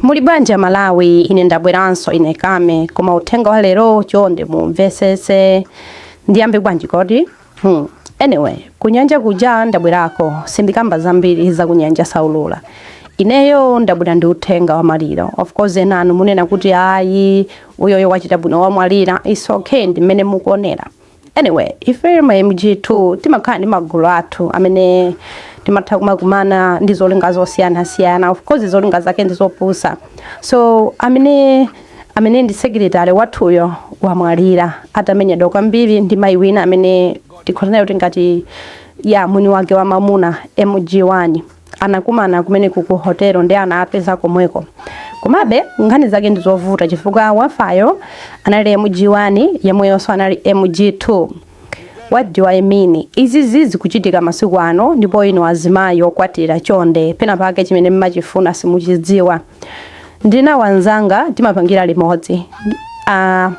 Muli bwanji a Malawi ine ndabweranso ine Kame koma uthenga wa lero chonde mumvesese ndiyambe bwanji kodi hmm. Anyway kunyanja kuja ndabwerako sindikamba zambiri za kunyanja saulula ineyo ndabwera ndi uthenga wa maliro of course enanu munena kuti ayi uyoyo wachita bwino wamwalira it's okay ndi mmene mukuonera Anyway, ife ma MG2 timakhala ndi magulu athu amene timatha kumakumana ndi zolinga zosiyanasiyana of course zolinga zake ndi zopusa so amene amene ndi secretary wathuyo wamwalira atamenyedwa kwambiri ndi mayi wina amene tikhoza kunena kuti ngati ya mwini wake wa mamuna MG1 anakumana kumeneko ku hotelo nde anawapeza komweko komabe nkhani zake ndi zovuta chifukwa wafayo anali mg1 yemweyonso anali mg2 what do i mean izizi zikuchitika masiku ano ndipo inu azimayi okwatira chonde pena pake chimene mmachifuna simuchidziwa ndili nawo anzanga timapangira limodzi uh,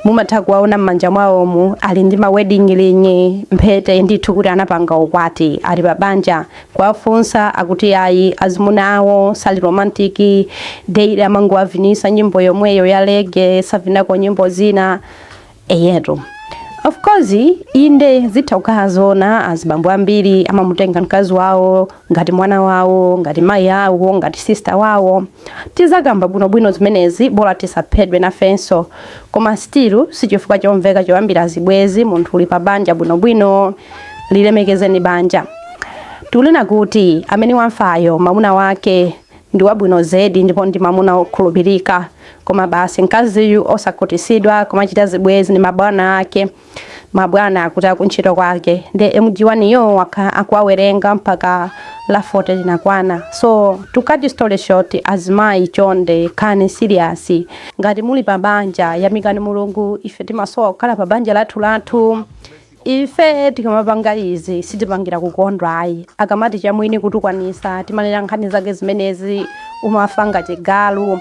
Mumatha kuwaona mmanja mwawomu ali ndi ma wedding ring, mphete, ndithu kuti anapanga ukwati, ali pa banja. Kuwafunsa akuti ayi, azimuna awo sali romantic, daily amangowavinisa nyimbo yomweyomweyo ya reggae, savinako nyimbo zina. Eyetu. Of course, inde zitha kukhala zoona azibambo ambiri amamutenga mkazi wawo ngati mwana wawo, ngati mayi awo, ngati sister wawo. Tizakamba bwino bwino zimenezi bola tisaphedwe nafenso. Koma still sichifukwa chomveka choyambira zibwezi munthu uli pa banja bwino bwino. Lilemekezeni banja. Tikunena kuti amene wafayo mamuna wake ndi wabwino zedi ndipo ndi mamuna wokhulupirika. Koma basi mkaziyu osakhutisidwa kumachita zibwezi ndi mabwana ake. mabwana akutu akuntchito kwake nde mg1 yo wakhala akuwawerenga mpaka la 40 linakwana so to cut story short azimayi chonde khalani serious ngati muli pa banja yamikani mulungu ife timasowa kukhala pa banja lathu lathu ife tikamapanga izi sitipangira kukondwa ayi akamati chamwini kutukwanisa timanena nkhani zake zimenezi umafa ngati galu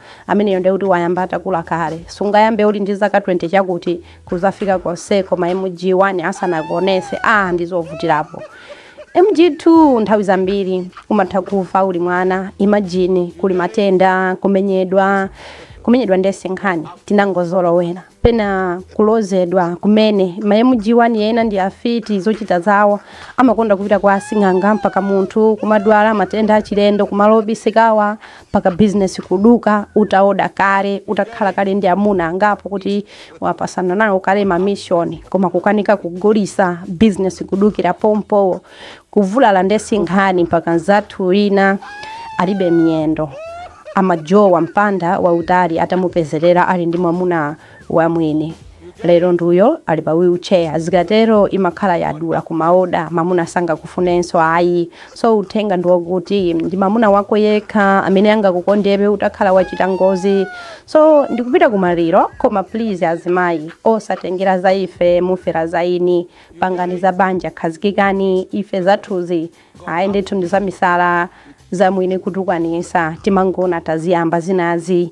Ameneyo ndiye kuti wayamba atakula kale. Sungayambe uli ndi zaka 20 chakuti, kuzafika konseko ma MG 1 asanakuonese, aah ndizovutirapo. MG 2 nthawi zambiri umatha kufa uli mwana, imagine kuli matenda, kumenyedwa, kumenyedwa ndiye sinkhani, tinangozolowera. pena kulozedwa kumene ma mg1 ena ndi afiti zochita zawo amakonda kupita kwa asing'anga mpaka munthu kumadwala matenda achilendo kumalo obisikawa mpaka bizinesi kuduka utaoda kale utakhala kale ndi amuna angapo kuti wapasana nawo kale mamishoni koma kukanika kugulisa bizinesi kudukira pompowo Kuvulala nde si nkhani mpaka anzathu ena alibe miyendo amajowa mpanda wautali atamupezelera ali ndi mwamuna wa mwini lero nduyo ali pa wheel chair zikatero imakhala yadula kumaoda mamuna sangakufunenso ayi so uthenga ndi woti ndi mamuna wako yekha amene angakukondebe utakhala wachita ngozi so ndikupita kumaliro koma please azimayi osatengera za ife mufera za ini pangani za banja khazikikani ife zathuzi ayi ndithu ndi zamisala zamwini kutukwanisa timangoona taziyamba zinazi